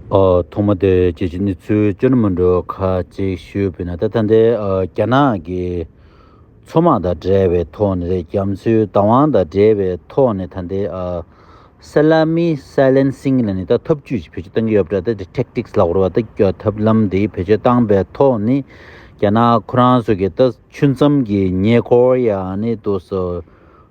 ཐོག་མ་དེར་རྒྱལ་སྤྱིའི་གནས་ཚུལ་བཅོས་མ་འགྲོ་ཁ་ཅིག་ཞུས་ཕུལ་ན་ད་ལྟ་འདི་རྒྱ་ནག་གི་མཚོ་དམག་དང་འབྲེལ་བའི་ཐོག་ནས་རེད་རྒྱ་མཚོའི་བདག་དབང་དང་འབྲེལ་བའི་ཐོག་ནས་ད་འདི་སཱི་ལཱ་མི་སཱི་ལན་སིང་ལ་ནི་ད་ཐབས་བྱུས་ཞིག་བེད་སྤྱོད་གཏང་གི་ཡོད་པ་འདྲ་སྟེ Tactics ལ་བོར་བ་ད་ཐབས་ལམ་དེ་བེད་སྤྱོད་བཏང་པའི་ཐོག་ནས་རྒྱ་ནག་ཁོ་རང་ཚོ་གི་ད་ཆུ་མཚམས་ཀྱི་ཉེ་འཁོར་ཡང་ནི་དུ་སོ།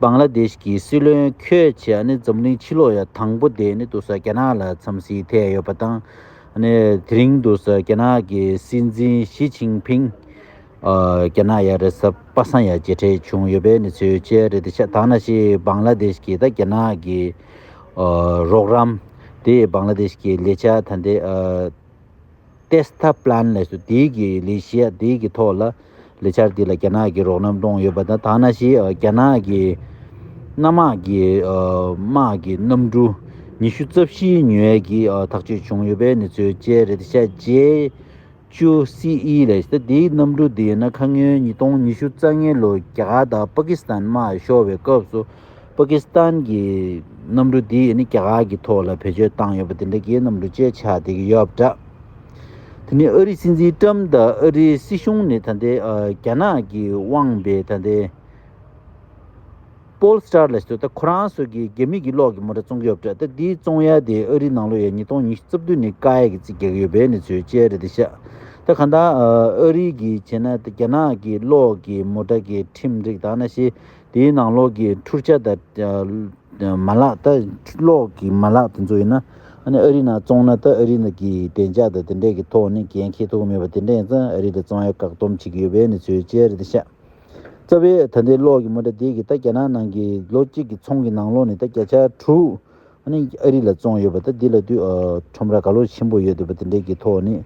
བཱང་ལ་དེ་ཤི་ཀི་སྲིད་བློན་ཁྱོད་ཀྱིས་ནི་འཛམ་གླིང་ཕྱི་ལོགས་ཡ་དང་པོ་དེ་ནི་དུ་ས་རྒྱ་ནག་ལ་འཚམས་གཟིགས་ཐད་ཡོད་པ་དང། དེ་རིང་དུ་ས་རྒྱ་ནག་གི་སྲིད་འཛིན་ཞི་ཅིང་ཕིང། རྒྱ་ནག་ཡ་རེད་ས་པ་སང་ཡ་མཇལ་འཕྲད་བྱུང་ཡོད་པའི་གནས་ཚུལ་བཅས་རེད་དེ་ཤ་དང་ན་ཤི་བཱང་ལ་དེ་ཤི་ཀི་དང་རྒྱ་ནག་གི་རོགས་རམ། དེ་ཡིས་བཱང་ལ་དེ་ཤི་ཀི་ལས་བྱ་ཐ་དད། Testa Plan ལས་སུ་དེའི་གི་ལི་གཞི་དེའི་གི་ཐོག་ལ་ལི་ཆར་དེ་ལ་རྒྱ་ནག་གི་རོགས་རམ་གཏོང་ཡོད་པ་དང་ཐ་ན་ཞི་རྒྱ་ནག་གི་གནའ་དམག་གི་དམག་གི་གནམ་གྲུ་ཉི་ཤུ་རྩ་བཞིའི་ཉུལ་བས་གི་ཐག་གཅོད་བྱུང་ཡོད་པའི་གནས་ཚུལ་བཅས་རེད་ཤ་རྗེ་ཅུ་སི་ཨི་ལས་སུ་དེའི་གནམ་གྲུ་དེ་ཡིན་ན་ཁ་སྔོན་ཉིས་སྟོང་ཉི་ཤུ་རྩ་ལྔའི་ལོ་རྒྱ་དང་པ་ཀི་སི་ཐན་དམག་ཤོར་བའི་སྐབས་སུ་པ་ཀི་སི་ཐན་གྱི་གནམ་གྲུ་དེ་ཡིས་ནི་རྒྱ་གར་གྱི་ཐོག་ལ་བེད་སྤྱོད་བཏང་ཡོད་པ་དེ་འདྲ་གྱི་གནམ་གྲུ་བཅས་ཆགས་བསྡད་ཀྱི་ཡོད་པ་འདྲ། དེ་ནི་ཨ་རིའི་སྲིད་འཛིན་ཀྲམ་དང་ཨ་རིའི་སྲིད་གཞུང་ནི་ད་ལྟའི་རྒྱ་ནག་གི་དབང་པའི་ད་ལྟའི Paul Star ལ་སོས་ད་ཁོ་རང་སོ་གི་རྒྱ་མི་གྱི་གློག་གི་མོ་འདྲ་བཙོང་གི་ཡོད་པ་འདྲ་ད་དེའི་བཙོང་ཡ་དེ་ཨ་རིའི་ནང་ལོ་ཡ་ཉིས་སྟོང་ཉི་ཤུ་རྩ་བདུན་ནས་ཀ་ཡ་གི་རྩིས་རྒྱག་གི་ཡོད་པའི་གནས་ཚུལ་བཅས་རེད་དེ་ཤ་ད་གང་ལྟར་ཨ་རིའི་གྱི་བྱས་ན་ད་རྒྱ་ནག་གི་གློག་གི་མོ་འདྲ་གི་ཁྲིམས་རིགས་དང་ན་ཤེས་དེའི་ནང་གློག་གི་འཁྲུར་ཆ་དང། མ་ལག་ལྟ། གློག་གི་མ་ལག་དེ་ཚོ་ཡིན་ན། ཨ་ནི་ཨ་རི་ནང་བཙོང་ན་ལྟ་ཨ་རི་ནགི་བདེ་འཇགས་དང་དེ་འདྲས་ཀྱི་ཐོག་ནས་འགན་འཁྱེར་ཐུབ་ཀྱི་མེད་པ་དེ་འདྲས་ཡིན་ཙང་ཨ་རི་ལ་བཙོང་ཡ་བཀག་བསྡོམས་བྱེད་ཀྱི་ཡོད་པའི་གནས་ཚུལ་བཅས་རེད་དེ་ཤག། རྩ་བའི་ད་ལྟའི་གློག་གི་མུ་དྲ་དེ་གི་ད་རྒྱ་ནག་ནང་གི་ལོ་གཅིག་གི་ཚོང་གི་ནང་གློག་ནི་ད་བརྒྱ་ཆ་དྲུག། ཨ་ནི་ཨ་རི་ལ་བཙོང་ཡོད་པ་ད་འདི་ལ་དུས་ཁྲོམ་ར་ག་ལོ་ཆེན་པོ་ཡོད་འདུག་པ་དེ་འདྲས་ཀྱི་ཐོག་ནས་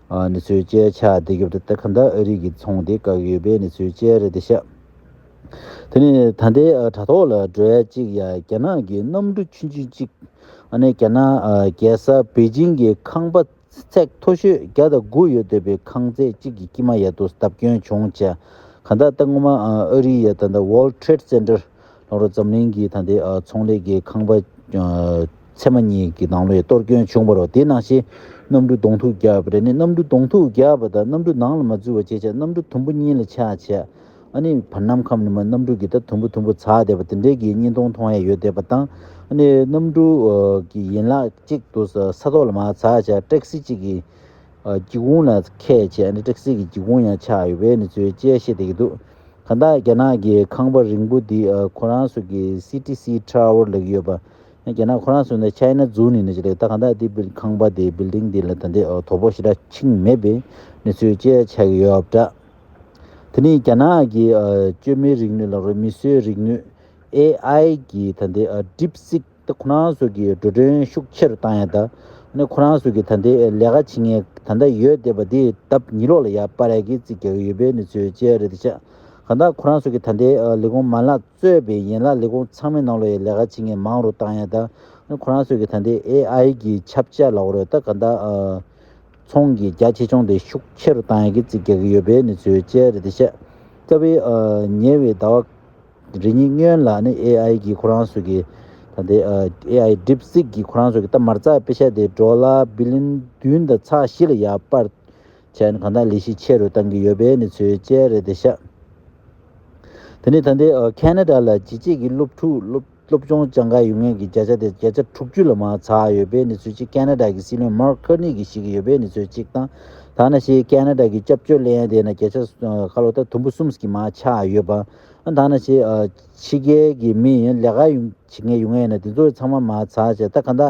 གནས་ཚུལ་བཅས་ཆགས་འདི་སྐབས་ད་ལྟ་ག་འདྲ་ཨ་རི་གི་ཚོང་དེ་བཀག་ཡོད་པའི་གནས་ཚུལ་བཅས་རེད་དེ་ཤག། དེ་ནས་ད་ལྟའི་དྲ་ཐོག་ལ་འགྲོ་ཡ་གཅིག་ཡ་རྒྱ་ནག་གི་གནམ་གྲུ་ཆུན་ཆུན་གཅིག་ཨ་ནེ་རྒྱ་ནག་རྒྱལ་ས་པེ་ཅིང་གི་ཁང་པ་ཚད་མཐོ་ཤོས་བརྒྱ་དང་དགུ་ཡོད་འདོད་པའི་ཁང་བརྩེགས་གཅིག་གི་དཀྱིལ་མ་ཡ་དུ་བརྡབ་སྐྱོན་བྱུང་ཆ་ག་ད་ལྟ་སྔོན་མ་ཨ་རིའི་ཡ་ད World Trade Center ལྷོ་རོ་འཛམ་གླིང་གི་ད་ལྟའི་ཚོང་ལས་ཀྱི་ཁང་པ་ཚད་མ་གཉིས་ཀྱི་ནང་ལོ་ཡ་གཏོར་སྐྱོན་བྱུང་བ་རོ་དེའི་ནང་བཞིན་གནམ་གྲུ་གདོང་ཐུག་བརྒྱ་བརྒྱ་ནི་གནམ་གྲུ་གདོང་ཐུག་བརྒྱ་བ་དང་གནམ་གྲུ་ནང་ལ་མ་འཛུལ་བ་བཅས་ཆ་གནམ་གྲུ་དུམ་བུ་གཉིས་ལ་ཆ་ཆ། ཨ་ནི་བར་སྣང་ཁམས་ནི་མ་རྣམ་དྲུག་གི་ད་དུམ་བུ་དུམ་བུ་ཚ་བསྡད་པ་དེ་འདྲའི་གི་གཉིས་སྟོང་མཐོང་ཡས་ཡོད་བསྡད་པ་དང་ཨ་ནི་རྣམ་དྲུག་གི་ཡན་ལག་གཅིག་ཏུ་ས་ཐོག་ལ་མ་ཚ་བྱ་སྤྲེགས་སེ་གཅིག་གི་སྒྱིད་གུང་ལ་ཁད་བྱས་ཨ་ནི་སྤྲེགས་སེ་གི་སྒྱིད་གུང་ཡང་ཆགས་ཡོད་པའི་ནི་ཚུལ་དཔྱད་བཤད་བསྡད་ཀྱི་འདུག་གང་དག་རྒྱ་ནག་གི་ཁང་པ་རིང་པོ་འདི་ཁོ་རང་ཚོ་གི་སི་ཏི་སི་ཐྲའོར་ལས་ཀྱི་ཡོད་པ་ཡང་རྒྱ་ནག་ཁོ་རང་ཚོ་ནི China Zoo ནི་ནི་ཅི་ལེགས་ད་གང་དག་འདི་ཁང་པ་འདི Building འདི་ལ་ད་འདི་དོ་པོ་ཞེ་དྲག་ཆིངས་མེད་པའི་ནི་ཚུལ་དཔྱད་བྱས་ཀྱི་ཡོད་འདྲ། དེ་ནི་རྒྱ་ནག་གི་བཅོས་མའི་རིག་ནུས་ལ་རོལ་མི་སྲོལ་རིག་ནུས། AI། གི་ད་ལྟའི DeepSeek དེ་ཁོ་རང་ཟོག་གི་འགྲོ་གྲོན་ཤུགས་ཆེ་རུ་བཏང་ཡ་ད་ནི་ཁོ་རང་ཟོག་གི་ད་ལྟའི་ལས་ཀ་བྱེད་ངེས་ད་ལྟ་ཡོད་བསྡད་པ་དེ་ལྡབ་གཉིས་ལོག་ལ་ཡར་པ་རེ་གི་རྩིས་རྒྱག་གི་ཡོད་པའི་གནས་ཚུལ་བཅས་རེད་དེ་ཆགས་གང་ལྟར་ཁོ་རང་ཟོག་གི་ད་ལྟའི་ལས་ཁུངས་མ་ལག་གཙོས་པའི་ཡན་ལག་ལས་ཁུངས་ཚང་མའི་ནང་ལོ་ཡི་ལས་ཀ་བྱེད་ངེས་མང་རུ་བཏང་ཡ་ད་ནི་ཁོ་རང་ཟོག་གི་ད་ལྟའི AI གི་ཁྱབ་བྱ་ལ་རོལ་ད་གང་ལྟར་ཚོང་གི་རྒྱ་ཆེ་ཆུང་དེ་ཤུགས་ཆེ་རུ་བཏང་ཡག་གི་རྩིས་རྒྱག་གི་ཡོད་པའི་གནས་ཚུལ་བཅས་རེད་དེ་བཤད། རྩ་བའི། ཉེ་བའི་ཟླ་བ། རེ་གཉིས་སྔོན་ལ་ནི AI གིས་ཁོ་རང་ཚོ་གི། ད་ལྟའི། AI DeepSeek གིས་ཁོ་རང་ཚོ་གི་རྟ་དམར་རྩྭའི་དཔེ་ཆ་དེ་འབྲོག་ལ་བི་ལིན་བདུན་དང་ཚགས་བཞི་ལ་ཡར་སྤར། བྱས་ནས་གང་ཐག་ལས་གཞི་ཆེ་རུ་བཏང་གི་ཡོད་པའི་གནས་ཚུལ་བཅས་རེད་དེ་བཤད། དེ་ནི་ད་ལྟའི་ཁེ་ན་རྡ་ལ་ཇི་ཆེ་གི་སློབ་ཕྲུག་སློབ། སློབ་ཆུང་བསྐྱངས་ཁར་ཡུལ་དངོས་ཀྱི་བརྒྱ་ཆ་དེ་བརྒྱ་ཆ་དྲུག་ཅུ་ལ་མ་ཚ་བ་ཡོད་པའི་གནས་ཚུལ་གཅིག་ཀན་ན་རྡ་གི་སྲིད་བློན་མར་ཁར་ནི་གིས་བཤད་ཀྱི་ཡོད་པའི་གནས་ཚུལ་གཅིག་དང། ཐ་ན་ཤེས་ཀན་ན་རྡ་གི་སྐྱབས་བཅོལ་གླེང་ཡ་དེ་ན་བརྒྱ་ཆ་ཁ་ལོ་ད་དུམ་བུ་གསུམ་གྱི་མ་ཆགས་ཡོད་པ། ཐ་ན་ཤེས་ཕྱི་རྒྱལ་གྱི་མི་ཡིན་ལས་ཀ་བྱེད་མཁན་ཡུལ་དངོས་ཡིན་ན་དེ་ཚོ་ཡི་ཚང་མ་མ་ཚ་བྱས་ད་ག་ད་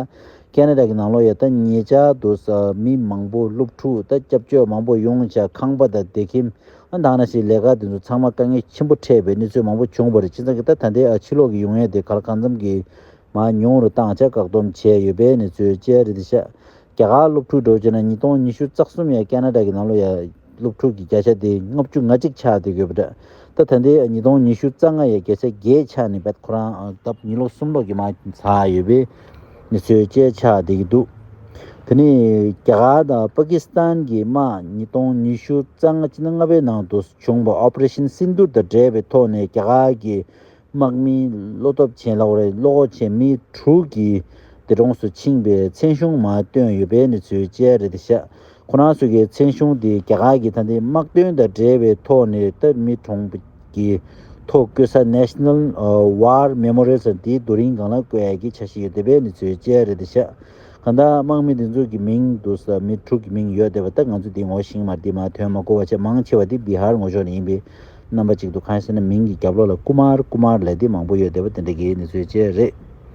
ཀན་ན་རྡ་གི་ནང་ལོག་ཡ་ད་ཉེ་ཆར་དུ་མི་མང་པོ་སློབ་ཕྲུག་ད་སྐྱབས་བཅོལ་མང་པོ་ཡོང་བྱ་ཁང་པ་ད་སྡེ་ཁིམས་མདང་ན་སའི་ལས་ཀ་དེ་ཚོ་ཚང་མ་དཀའ་ངལ་ཆེན་པོ་འཕྲད་པའི་གནས་ཚུལ་མང་པོ་བྱུང་བ་རེད་སྤྱི་ཚང་གི་ད་ལྟའི་ཨ་ཕྱི་ལོག་གི་ཡུང་ཡན་དེ་གར་གང་འཚམ་གྱིས་མ་ཉུང་རུ་བཏང་ཆ་བཀག་སྡོམ་བྱས་ཡོད་པའི་གནས་ཚུལ་བཅས་རེད་དེ་ཤག་རྒྱ་གར་སློབ་ཕྲུག་འགྲོ་བྱེད་ན་ཉིས་སྟོང་ཉི་ཤུ་རྩ་གསུམ་ཡར་ཀ་ན་ཀྲ་གི་ནང་ལོ་ཡར་སློབ་ཕྲུག་གི་བརྒྱ་ཆ་དེ་ལྔ་བཅུ་ང་གཅིག་ཆགས་བསྡད་ཡོད་པ་རེད་ད་ད་ལྟའི་ཉིས་སྟོང་ཉི་ཤུ་རྩ་ལྔ་ཡར་བརྒྱ་ཆ་བརྒྱད་ཆགས་ནས་བད་ཁོ་རང་ད་ཉིས་ལོ་གསུམ་ལོག་གི་མ་ཚགས་ཡོད་པའི། མི་ཚོས་སྐད་ཆ་འདི་གི་འདུག་དེ་ནི་རྒྱ་གར་དང་པ་ཀི་སི་ཐན་གྱི་དམག་ཉིས་སྟོང་ཉི་ཤུ་རྩ་ལྔ་སྤྱི་ཟླ་ལྔ་པའི་ནང་དུ་བྱུང་བ Operation Sindoor དང་འབྲེལ་བའི་ཐོག་ནས་རྒྱ་གར་གྱི་དམག་མིའི་བློ་སྟོབས་ཆེན་ལ་བར་བློ་ཁོག་ཆེན་མི་དྲུག་གིས་འདས་གྲོངས་སུ་ཕྱིན་པའི་མཚན་གཞུང་མ་བཏོན་ཡོད་པའི་གནས་ཚུལ་བཅས་རེད་དེ་ཤ་ཁོ་རང་ཚོ་གི་མཚན་གཞུང་དེ་རྒྱ་གར་གྱི་ད་ལྟའི་དམག་དོན་དང་འབྲེལ་བའི་ཐོག་ནས་སྟབས་མི་གྲོངས་པའི་ཐོག་བརྐོས་ས National War Memorial དང་དེའི་རྡོ་རིང་སྒང་ལ་བརྐོས་ཡག་གི་ཆ་ཞིག་ཡོད་བསྡད་པའི་ནི་ཚོའི་དཔྱད་རེད་དེ་ཤག་གང་ལྟར་དམག་མི་དེ་ཚོ་གི་མིང་དུ་ས་མི་དྲུག་གི་མིང་ཡོད་བསྡད་པ་ད་ང་ཚོ་དེ་ངོ་ཤིང་མར་དེ་མ་ཐོན་མ་གོ་བ་ཆེས་མང་ཆེ་བ་དེ Bihar ངོ་ཕྱོགས་ནས་ཡིན་པའི་རྣམ་པ་ཅིག་འདུག་གང་ཡིན་ཟེར་ན་མིང་གི་རྒྱབ་ལོག་ལ Kumar Kumar ལས་དེ་མང་པོ་ཡོད་བསྡད་པ་དེ་འདྲ་གི་ནི་ཚོའི་དཔྱད་རེད།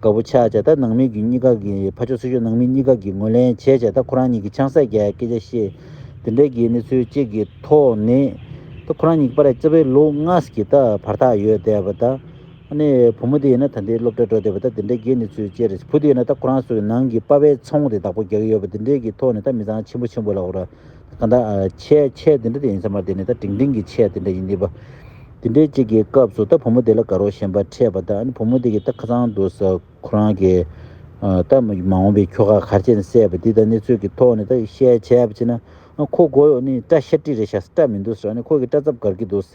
དགའ་བོ་ཆགས་བྱས་ད་ནང་མི་རྒྱུ་གཉིས་ཀ་གི་ཕ་ཆོག་སྲི་ཆོག་ནང་མི་གཉིས་ཀ་གི་ངོ་ལེན་བྱས་བྱས་ད་ཁོ་རང་གཉིས་ཀྱི་ཆང་སད་རྒྱའི་སྐད་ཆ་ཤེས། དེ་འདྲ་གི་གནས་ཚུལ་གཅིག་གི་ཐོག་ནི། ད་ཁོ་རང་གཉིས་ཀྱི་པ་ར་ལྕི་བའི་ལུག་ལྔ་ཀྱི་ད་བར་ཐག་ཡོད་བསྡད་པ་ད། ནི་བུ་མོ་དེ་ཡིན་ན་ད་འདི་སློབ་གྲྭ་འགྲོ་བསྡད་པ་ད་དེ་འདྲ་གི་གནས་ཚུལ་བཅས་རེད་བུ་དེ་ཡིན་ན་ད་ཁོ་རང་སོ་ནང་གི་པ་བའི་ཚོང་དེ་བདག་པོ་རྒྱག་གི་ཡོད་པ་དེ་འདྲའི་གི་ཐོག་ནི་ད་མི་ཚང་ཆེན་པོ་ཆེན་པོ་ལ་འོ་ར་གང་ལྟར། ཆད་ཆད་དེ་འདྲ་དེ་ཡིན་ས་མ་དེ་ནི་ད་དྲིང་དྲིང་གི་ཆད་དེ་འདྲ་ཡིན་དེ་པ། དེ་འདྲའི་གཅིག་གི་སྐབས་སུ་ད་བུ་མོ་དེ་ལ་དགའ་རོགས་ཞེན་པ་འཕྲད་པ་ད་ཨ་བུ་མོ་དེ་གི་ད་ཁ་ཚང་འདུག་ས་ཁོ་རང་གི། ད་མ་འོངས་པའི་ཁྱོ་ག་གར་ཆད་ནས་སད་པ་དེ་ད་གནས་ཚུལ་གི་ཐོག་ནས་ད་བཤད་བྱས་པ་ཅི་ན། ཁོ་མགོ་ཡོ་ནི་སྐྲ་ཤ་ཀྲི་རེ་བཞག་སེ་སྐྲ་མི་འདུག་ས་ཨ་ནི་ཁོ་གི་སྐྲ་ཚབ་གར་གི་འདུག་ས།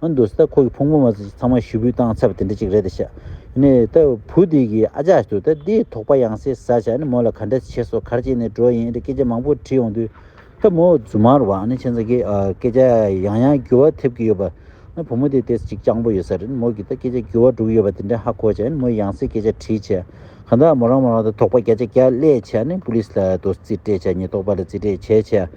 ཨ་འདུག་ས་ཁོ་གི་ཕུང་པོ་མ་ཚང་ཚང་མ་ཞུ་འབུད་བཏང་ཚར་བ་དེ་འདྲ་ཅིག་རེད་ཤག་ནས་ད་བུ་དེ་གི་ཨ་ཅག་ཏུ་ད་དེ་དོགས་པ་ཡང་སེ་ཟ་ཤག་ནས་མོ་ལ་ག་འདྲ་བྱས་སོ་གར་བྱས་ནས་འགྲོ་ཡིན་རེད་སྐད་ཆ་མང་པོ་དྲིས་ཡོང་དུས་ད་མོ་རྫུན་མ་རུ་བ་ནི་ཆེ་ཚང་གི་སྐད་ཆ་ཡང་ཡང་འགྱུར་བ་ཐེབས་ཀྱི་ཡོད་པ་ནི་བུ་མོ་དེ་དེ་ཅིག་སྤྱང་པོ་ཡོད་ས་རེད་མོ་གི་ད་སྐད་ཆ་འགྱུར་བ་འགྲོ་གི་ཡོད་པ་དེ་འདྲ་ཧ་གོ་ཤག་ནས་མོ་ཡང་སེ་སྐད་ཆ་དྲིས་ཤག་གང་ལྟར་མོ་རང་མོ་རང་ད་དོགས་པ་བརྒྱ་ཆ་བརྒྱ་བསླད་ཤག་ནས་པུ་ལིས་ལ་དོ་རྩིས་སྤྲད་ཤག་ཉེས་རྟོག་པ་ལ་རྩིས་སྤྲད་བྱས་ཤག།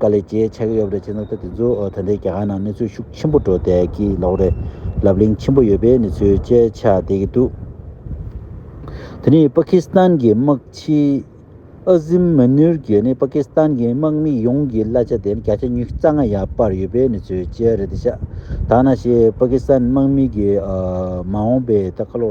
ག་ལེ་ཇེ་ཆགས་ཀྱི་ཡོད་རེད་ཅེས་ན་ད་དེ་ཚོ་ད་ལྟའི་རྒྱ་གར་ནང་གནས་ཚུལ་ཤུགས་ཆེན་པོ་འགྲོ་བསྡད་ཀྱི་ལོག་རེད། ལབ་གླེང་ཆེན་པོ་ཡོད་པའི་གནས་ཚུལ་བཅས་ཆགས་བསྡད་ཀྱི་འདུག་དེ་ནི་པ་ཁི་སི་ཐན་གྱི་དམག་སྤྱི་ཨ་ཟིམ་མོན་ནུར་གྱིས་ནི་པ་ཁི་སི་ཐན་གྱི་དམག་མི་ཡོངས་ཀྱི་གླ་ཆ་དེ་ནི་བརྒྱ་ཆ་ཉིས་རྩ་ལྔ་ཡར་སྤར་ཡོད་པའི་གནས་ཚུལ་བཅས་རེད་དེ་ཤ་ད་ང་ཞེས་པ་ཁི་སི་ཐན་དམག་མི་གྱི་མ་འོངས་པའི་ད་ཁ་ལོ་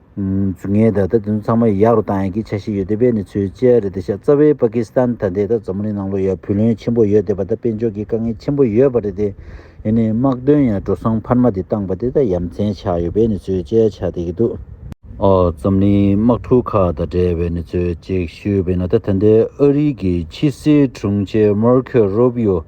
ངས་ད་ལྟ་དེ་ཚོ་ཚང་མ་ཡག་རུ་བཏང་ཡག་གི་ཆ་ཤས་ཡོད་དེ་བས་ནི་ཚོའི་ལྕེ་ཡ་རེད་དེ་ཤ་རྩ་བའི་པ་ཀི་སི་ཐན་ད་ལྟའི་ད་འཛམ་གླིང་ནང་ལོ་ཡ་བུ་ལོན་ཆེན་པོ་ཡོད་དེ་བ་ད་དཔལ་འབྱོར་གི་དཀའ་ངལ་ཆེན་པོ་ཡོད་པ་རེད་དེ་ཡེ་ནས་དམག་དོན་ཡ་འགྲོ་སོང་འཕར་མ་དེ་བཏང་པ་དེ་ད་ཡ་མཚན་ཆགས་ཡོད་བས་ནི་ཚོའི་ལྕེ་ཡ་ཆགས་དེ་གི་འདུག། འཛམ་གླིང་དམག་འཁྲུག་ཁག་ད་བྲལ་བས་ནི་ཚོའི་ལྕེ་ཤུལ་བས་ན་ད་ད་ལྟའི་ཨ་རིའི་གི་ཕྱི་སྲིད་དྲུང་ཆེ་མར་ཁོ་རོ་བི་ཡོ་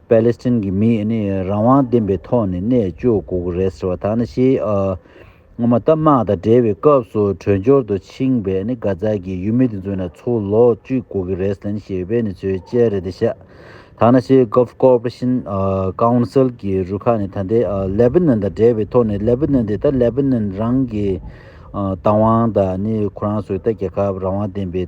པཱ་ལེ་སི་ཐན་གྱི་མིས་ནི་རང་དབང་ལྡན་པའི་ཐོག་ནས་གནས་བཅུག་དགོས་ཀྱི་རེད་ཟེར་བ་དག་ནི་ཞེས་སྔོན་མ་སྟབས་དམག་དང་འབྲེལ་བའི་སྐབས་སུ་བྲོས་འབྱོར་དུ་ཕྱིན་པའི་ནི་གྷ་ཛ་གྱི་ཡུལ་མི་དེ་ཚོས་ནི་ཚུར་ལོག་བཅུག་དགོས་ཀྱི་རེད་ཟེར་ནས་ཞེས་པའི་ནི་ཚུལ་དཔྱད་རེད་དེ་བཤད་དག་ནི་ཞེས Gulf Cooperation Council གྱི་རུ་ཁག་ནི་ད་ལྟའི Lebanon དང་འབྲེལ་བའི་ཐོག་ནས Lebanon དེ་ད Lebanon རང་གི་དང་བང་དང་ནི་ཁོ་རང་སོའི་ད་རྒྱལ་ཁབ་རང་དབང་ལྡན་པའི།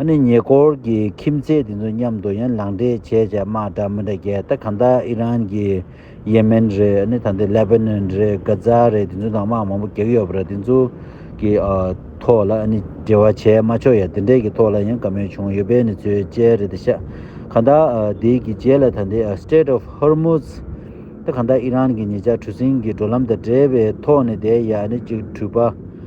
ཨ་ནི་ཉེ་འཁོར་གྱི་ཁྱིམ་མཚེས་དེ་ཚོ་མཉམ་དུ་ཡན་ལག་འདྲེས་བྱས་བྱས་དམག་འདྲ་མི་འདྲ་རྒྱལ་ད་གང་ད་ཨི་རན་གྱི་ཡེ་མེན་རེད་ཨ་ནི་ད་འདི་ལེ་བྷེ་ནོན་རེད་གྷ་ཛ་རེད་དེ་ཚོ་དང་དམག་མང་པོ་གེགས་ཡོད་པ་རེད་དེ་ཚོ་གི་ཐོག་ལ་ཨ་ནི་འབྲེལ་བ་བྱས་མ་ཆོག་ཡ་དེ་འདྲས་ཀྱི་ཐོག་ལ་ཡང་དགའ་མོས་བྱུང་ཡོད་པས་ནི་ཚོའི་དཔྱད་རེད་ད་ཤ་གང་ད་འདི་གི་རྗེས་ལ་ད་འདི Strait of Hormuz ད་གང་ད་ཨི་རན་གྱི་ཉེ་ཆར་གྲུ་གཟིངས་གི་འགྲོ་ལམ་དང་འབྲེལ་བའི་ཐོག་ནས་བསྡད་ཡ་ཨ་ནི་གཅིག་གྲུ་པ།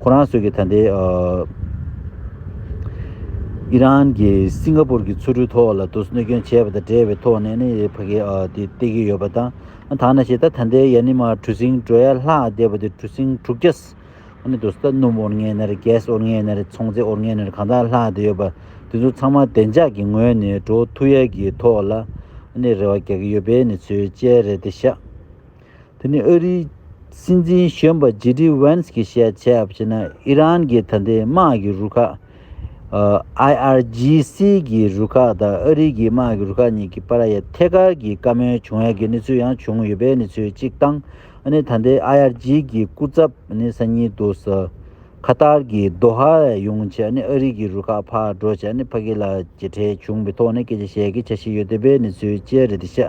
ཁོ་རང་ཚོས་ཀྱི་ད་ལྟའི་ཨི་རན་གྱིས་སིང་ག་པུར་གྱི་ཆུ་རུལ་ཐོག་ལ་དུག་གནོད་སྐྱོན་བྱས་པ་དང་འབྲེལ་བའི་ཐོག་ནས་ནི་ཕ་གི་དེ་སྟེར་གྱི་ཡོད་པ་དང་ཐ་ན་ཞེ་ད་ད་ལྟའི་ཡ་ནི་མ་གྲུ་སིང་གྲོ་ཡ་ལྷག་བསྡད་པ་དེ་གྲུ་སིང་དྲུག་བརྒྱ་ཨ་ནི་དུ་ས་སྣུམ་ཨོར་ངན་ནེར་རྒྱས་ཨོར་ངན་ནེར་ཚོང་རྫས་ཨོར་ངན་ནེར་གང་དག་ལྷག་བསྡད་ཡོད་པ་དེ་ཚོ་ཚང་མ་བདེ་འཇགས་ཀྱི་ངོས་ནས་འགྲོ་ཐུ་ཡ་གྱི་ཐོག་ལ་ཨ་ནི་རེ་བ་རྒྱག་གི་ཡོད་པའི་ནི་ཚོའི་དཔྱད་རེད་དེ་ཤ། དེ་ནི་ཨ་རིའི་སྲིད་འཛིན་གཞོན་པ་ཇེ་ལྡི་ཝེན་སི་གིས་བཤད་བྱས་པ་ཕྱིན་ན་ཨི་རན་གྱི་ད་ལྟའི་དམག་གི་རུ་ཁག IRGC གྱི་རུ་ཁག་དང་ཨ་རིའི་གི་དམག་གི་རུ་ཁག་གཉིས་ཀྱི་བར་ཡ་ཐེ་ཀར་གྱི་བཀའ་མོལ་བྱུང་ཡ་གི་གནས་ཚུལ་ཡང་བྱུང་ཡོད་པའི་གནས་ཚུལ་གཅིག་དང་ཨ་ནི་ད་ལྟའི IRG གྱི་སྐུ་ཚབ་ཨ་ནི་སང་ཉིན་དུ་ས་ཁ་ཏར་གྱི་རྡོ་ཧ་ལ་ཡོང་ཆེད་ཨ་ནི་ཨ་རིའི་གི་རུ་ཁག་ཕར་འགྲོ་ཆེད་ཨ་ནི་ཕ་ཁི་ལ་གྱི་གྲས་བྱུང་པའི་ཐོག་ནས་སྐད་ཆ་བཤད་གི་བྱ་བཞིན་ཡོད་འདོད་པའི་གནས་ཚུལ་བཅས་རེད་དེ་ཤ་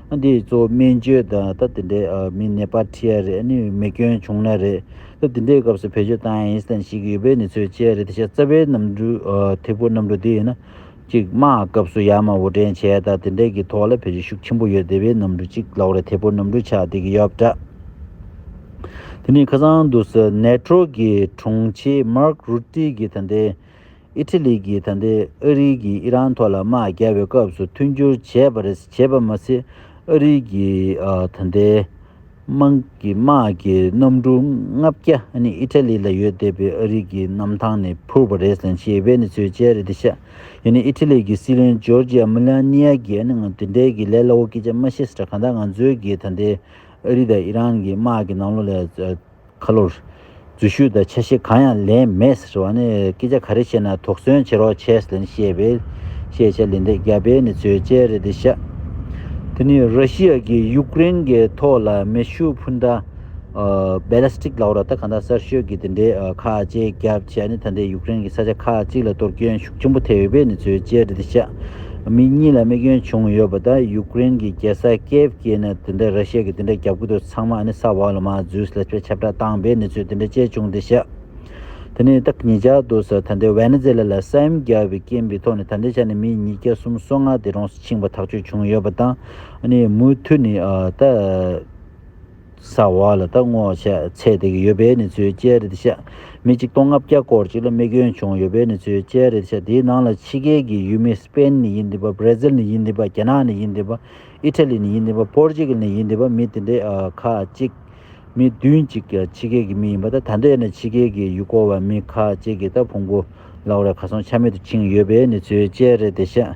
ཨ་འདི་གཙོ་བོ་སྨན་བཅོས་དང་སྟབས་དེ་འདྲའི་མི་ནད་པར་ཁྲིད་ཡ་རེད་ཨ་ནི་མི་སྐྱོན་བྱུང་ན་རེད་སྟབས་དེ་འདྲའི་སྐབས་སུ་བེད་སྤྱོད་བཏང་ཡ་ཡིན་སྟངས་ཤིག་ཡོད་པའི་ནི་ཚོད་དཔྱད་རེད་དེ་ཤ་རྩ་བའི་གནམ་གྲུ་ཐེ་བོ་གནམ་གྲུ་དེ་ཡིན་ན་གཅིག་དམག་སྐབས་སུ་ཡ་མ་འོ་དྲན་བྱས་སྟབས་དེ་འདྲའི་གི་ཐོག་ལ་བེད་སྤྱོད་ཤུགས་ཆེན་པོ་ཡོད་དེ་བའི་གནམ་གྲུ་གཅིག་ལོག་རེད་ཐེ་བོ་གནམ་གྲུ་ཆགས་དེ་གི་ཡོད་དྲ་དེ་ནི་ཁ་སང་དུ་སི་ནེ་ཀྲོ་གི་དྲུང་ཆེ་མར་ཀ་རུ་ཏི་གི་ད་ལྟའི་ཨི་ཐི་ལི་གིས་ད་ལྟའི་ཨ་རིའི་གིས་ཨི་རན་ཐོག་ལ་དམག་བརྒྱབ་པའི་སྐབས་སུ་མཐུན་འགྱུར་བྱས་པ་རེད་བྱས་པ་མ་ཟད་ཨ་རིའི་གིས་ད་ལྟའི་དམག་གི་དམག་གི་གནམ་གྲུ་ལྔ་བརྒྱ་ནི་ཨི་ཐི་ལི་ལ་ཡོད་བསྡད་པའི་ཨ་རིའི་གིས་གནམ་ཐང་ནས་ཕུར་བ་རེད་ཞེས་ཨི་བྷེ་ནི་ཚོས་བཅད་རེ་དེ་ཤ་ཡོད་ནི་ཨི་ཐི་ལི་གི་སྲིད་བློན་ཇོར་ཇི་ཨ་མི་ལ་ནི་ཡ་གིས་ཨ་ནི་ང་དེ་འདྲའི་གི་ལས་སླ་བོ་སྐད་ཆ་མ་ཤེས་ས་ཁ་གང་ད་ང་ཚོའི་གིས་ད་ལྟའི་ཨ་རི་དང་ཨི་རན་གི་དམག་གི་ནང་ལོགས་ལས་ཁ་ལོ། རྫུན་ཤོད་དང་ཆ་ཤས་གང་ཡང་ལེན་མེད་ཟེར་བ་ནི་སྐད་ཆ་ག་རེ་བཤད་ན་དོགས་ཟོན་བྱེད་རོགས་བྱས་ལེན་བཤད་པའི་བཤད་བྱ་ལེན་འདེགས་རྒྱབ་པའི་ནི་ཚོད་དཔྱད་རེད་འདི་ཤག་དེ་ནི་ར་ཤི་ཡ་གིས་ཡུག་ཀེ་རེན་གི་ཐོག་ལ་མེ་ཤུགས་འཕུར་མདའ། Ballistic ལ་ཨོ་ར་ད་ག་འདའ་གསར་ཤོད་ཀྱི་དེ་འདྲའི་ཁག་བཅས་རྒྱབ་བྱས་ནི་ད་ལྟའི་ཡུག་ཀེ་རེན་གྱི་ས་ཆ་ཁག་གཅིག་ལ་གཏོར་སྐྱོན་ཤུགས་ཆེན་པོ་ཐེབས་ཡོད་པའི་ནི་ཚོད་དཔྱད་རེད་འདི་ཤག། མི་གཉིས་ལ་དམིགས་སྐྱོན་བྱུང་ཡོད་པ་དང་ཡུཀ་རེན་གྱི་རྒྱལ་ས་ཀེ་བྷ་སྐྱེས་ནས་དེ་འདྲ་ར་ཤི་ཡ་གིས་དེ་འདྲ་རྒྱབ་གི་འདུག་ཚང་མ་ཨ་ནི་ས་བྷ་ལོ་མ་ཛུའུ་སི་ལ་ཆུ་བེད་ཁྱབ་བསྒྲགས་བཏང་པས་ནི་ཚོས་དེ་འདྲ་བྱས་བྱུང་དེ་ཤི་དེ་ནི་སྟག་ཉིས་བརྒྱ་འདུག་ས་ད་འདི་ཝེ་ནི་ཛེ་ལ་ལ་སེམས་རྒྱ་བའི་རྐྱེན་པའི་ཐོག་ནས་ད་འདི་ཆ་ནས་མི་ཉིས་བརྒྱ་གསུམ་སོ་ལྔ་དེ་རོང་སུ་ཕྱིན་པ་ཐག་གཅོད་བྱུང་ཡོད་པ་དང་ཨ་ནི་མུ་མཐུད་ནས་ད་ས་བ་ལ་ད་སྔོ་ཆ་ཚད་དེ་གི་ཡོད་པའི་ནི་ཚོའི་དཔྱད་རེད་ཤ་མི་གཅིག་སྟོང་ལྔ་བརྒྱ་སྐོར་ཅིག་ལ་དམེ་སྐྱོན་བྱུང་ཡོད་པའི་ནི་ཚོའི་དཔྱད་རེད་ཤ་དེའི་ནང་ལ་ཕྱི་རྒྱལ་གི་ཡུལ་མི Spain ནི་ཡིན་དེ་པ Brazil ནི་ཡིན་དེ་པ་རྒྱ་ནག་ནི་ཡིན་དེ་པ Italy ནི་ཡིན་དེ་པ Portugal ནི་ཡིན་དེ་པ་མི་དེ་འདྲའི་ཁ་ཅིག་མི་བདུན་ཅིག་ཕྱི་རྒྱལ་གི་མི་ཡིན་པ་ད་ད་འདྲའི་ནི་ཕྱི་རྒྱལ་གི་ཡུལ་སྐོར་བ་མི་ཁ་ཅིག་གི་ད་ཕུང་པོ་ལག་རེ་ཁ་སོང་ཆ་མེད་དུ་འཆིང་ཡོད་པའི་ནི་ཚོའི་དཔྱད་རེད་ཤ།